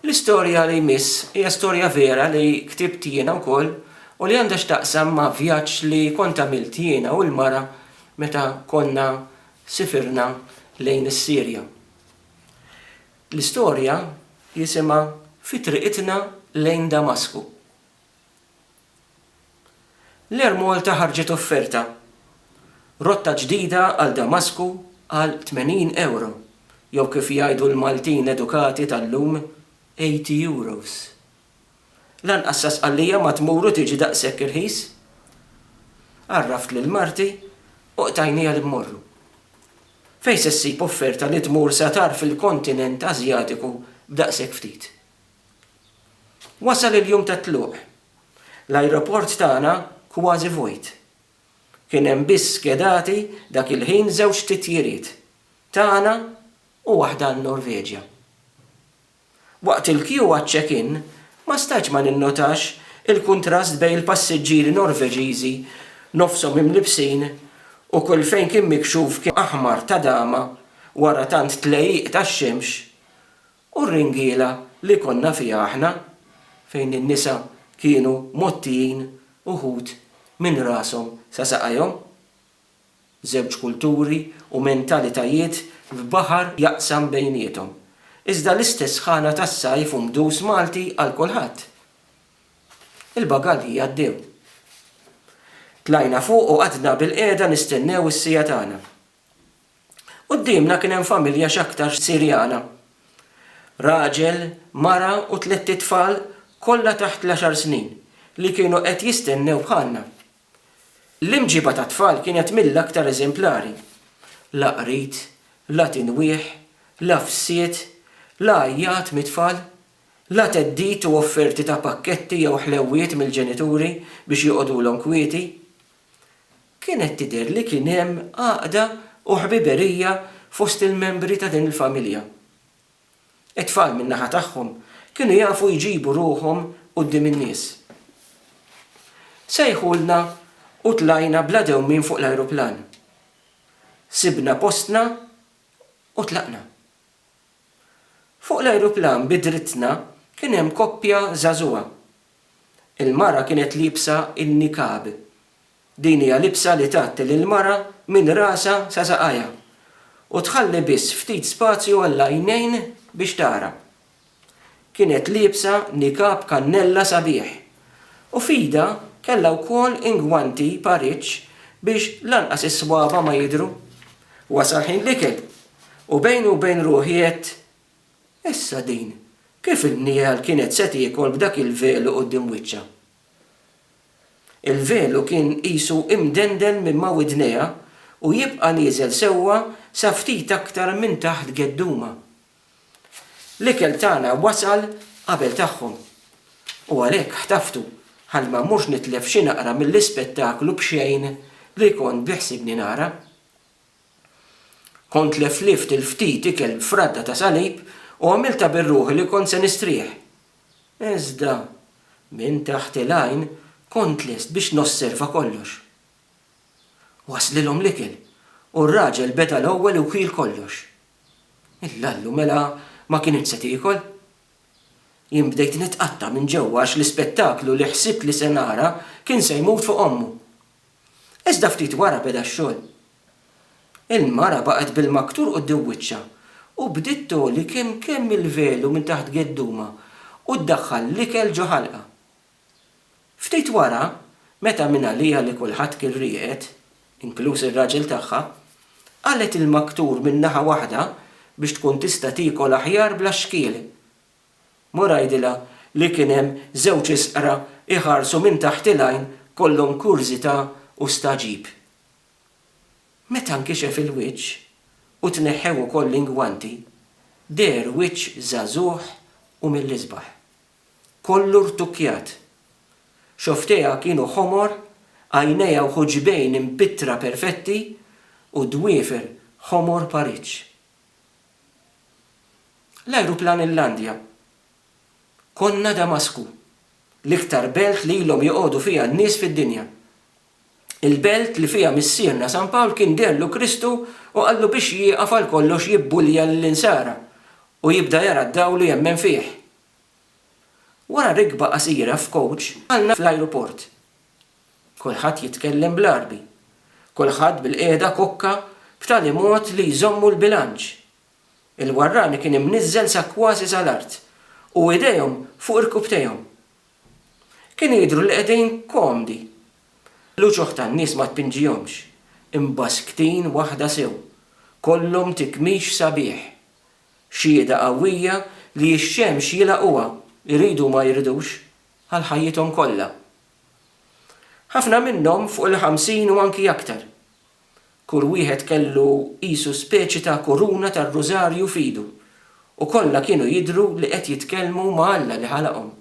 L-istorja li jmiss hija storja vera li ktibt jiena wkoll u li għandha x'taqsam ma' vjaġġ li kont għamilt jiena u l-mara meta konna sifirna lejn is-Sirja. L-istorja jisimha Fi Triqitna Lejn Damasku. L-Air Malta ħarġet offerta, Rotta ġdida għal Damasku għal €80, jew kif jgħidu l-Maltin edukati tal-lum, €80. Lanqas sa Sqallija ma tmur u tiġi daqshekk irħis. Għarraft lil marti u qtajnija li mmorru. Fejn se ssib offerta li tmur sa tarf il-kontinent Asjatiku b'daqshekk ftit? Wasal il-jum tat-tluq. L-ajruport tagħna kważi vojt. Kien hemm biss skedati dak il-ħin żewġ titjiriet, tagħna u waħda għan-Norveġja. Waqt il-kju għaċ-check-in ma stajtx ma ninnotax il-kuntrast bejn il-passiġġieri Norveġiżi nofshom imlibbsin u kull fejn kien mikxuf kien aħmar ta' dama wara tant tlejjiq tax-xemx U r-ringiela li konna fiha aħna, fejn in-nisa kienu mgħottijin uħud minn rashom sa saqajhom? Żewġ kulturi u mentalitajiet f'baħar jaqsam bejniethom, iżda l-istess sħana tas-sajf u mdus Malti għal kulħadd. Il-bagalji għaddew. Tlajna fuq u qgħadna bilqiegħda nistennew is-siegħa tagħna. Quddiemna kien hemm familja x'aktarx Sirjana. Raġel, mara u tlett itfal kollha taħt l-għaxar snin li kienu qed jistennew bħalna. L-imġiba tat-tfal kienet mill-aktar eżemplari. La qrid, la tinwieħ, la fsied, la għajjat mit-tfal, la theddid u offerti ta' pakketti jew ħlewwiet mill-ġenituri biex joqogħdulhom kwieti. Kienet tidher li kien hemm għaqda u ħbiberija fost il-membri ta' din il-familja. It-tfal min-naħa tagħhom kienu jafu jġibu ruħhom quddiem in-nies. Sejħulna u tlajna bla dewmien fuq l-ajruplan. Sibna postna u tlaqna. Fuq l-ajruplan bi drittna kien hemm koppja żagħżugħa Il-mara kienet liebsa n-niqab. Din hija libsa li tgħatti lill-mara minn rasha sa saqajha u tħalli biss ftit spazju għall-għajnejn biex tara. Kienet liebsa niqab kannella sabiħ u f'idha kellha wkoll ingwanti pariċċ biex lanqas is-swaba' ma jidhru. Wasal ħin l-ikel u bejni u bejn ruħi għedt Issa din, kif in-niegħel kienet se tiekol b'dak il-velu quddiem wiċċha? Il-velu kien qisu imdendel minn ma' widnejha u jibqa' nieżel sewwa sa ftit aktar minn taħt geddumha. L-ikel tagħna wasal qabel tagħhom. U għalhekk ħtaftu ħalli ma mmurx nitlef xi naqra mill-ispettaklu b'xejn li kont biħsibni nara. Kont leflift il-ftit ikel b'fradda ta' salib u għamiltha bir-ruħi li kont se nistrieħ. Iżda, minn taħt il-għajn, kont lest biex nosserva kollox. Waslilhom l-ikel, u r-raġel beda l-ewwel u kiel kollox. Il-lallu mela ma kinitx se tiekol? Jien bdejt nitqatta' minn ġewwa għax l-ispettaklu li ħsibt li se nara kien se jmut fuq ommu. Iżda ftit wara beda x-xogħol. Il-mara baqgħet bil-maktur quddiem wiċċha u bdiet togħli kemm kemm il-velu minn taħt geddumha u ddaħħal l-ikel ġo ħalqha. Ftit wara, meta mingħaliha li kulħadd kien rieqed, inkluż ir-raġel tagħha, qalgħet il-maktur minn naħa waħda biex tkun tista' tiekol aħjar bla xkiel. Mur għidilha li kien hemm żewġ isqra jħarsu minn taħt il-għajn kollhom kurżità u stagħġib. Meta nkixef il-wiċċ u tneħħew ukoll l-ingwanti, deher wiċċ żagħżugħ u mill-isbaħ. Kollu rtukkjat. Xofftejha kienu ħomor, għajnejha u ħuġbejn impittra perfetti u dwiefer ħomor pariġġ. L-ajruplan illandja. Konna Damasku, l-iktar belt li ilhom joqogħdu fiha n-nies fid-dinja. Il-belt li fiha missierna San Pawl kien deherlu Kristu u qallu biex jieqaf għal kollox jibbulja lill-Insara u jibda jara d-dawl u jemmen fih. Wara rikba qasira f'coach qalna fl-ajruport. Kulħadd jitkellem bl-Għarbi. Kulħadd bilqiegħda kokka b'tali mod li jżommu l-bilanċ. Il-warrani kien imniżżel sa kważi sal-art u idejhom fuq irkupptejhom. Kienu jidhru li qegħdin komdi. L-uċuħ tan-nies ma tpinġihomx. Imbassktin waħda sew. Kollhom tikmix sabiħ. Xhieda qawwija li x-xemx jilgħaquha, iridu u ma jridux, għal ħajjithom kollha. Ħafna minnhom fuq il-ħamsin u anki aktar. Kull wieħed kellu qisu speċi ta' kuruna tar-rużarju f'idu u kollha kienu jidhru li qed jitkellmu ma' Alla li ħalaqhom.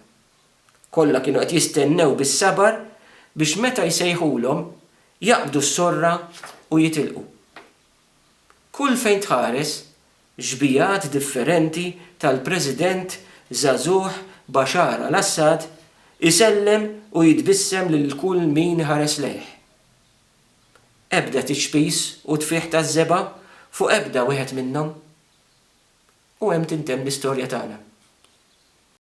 Kollha kienu qed jistennew bis-sabar biex meta jsejħulhom, jaqbdu s-sorra u jitilqu. Kull fejn tħares, xbigħat differenti tal-President żagħżugħ Bashar al-Assad isellem u jitbissem lil kull min iħares lejh. Ebda tiċpis u tfigħ taż-żebgħa fuq ebda wieħed minnhom. U hemm tintemm l-istorja tagħna.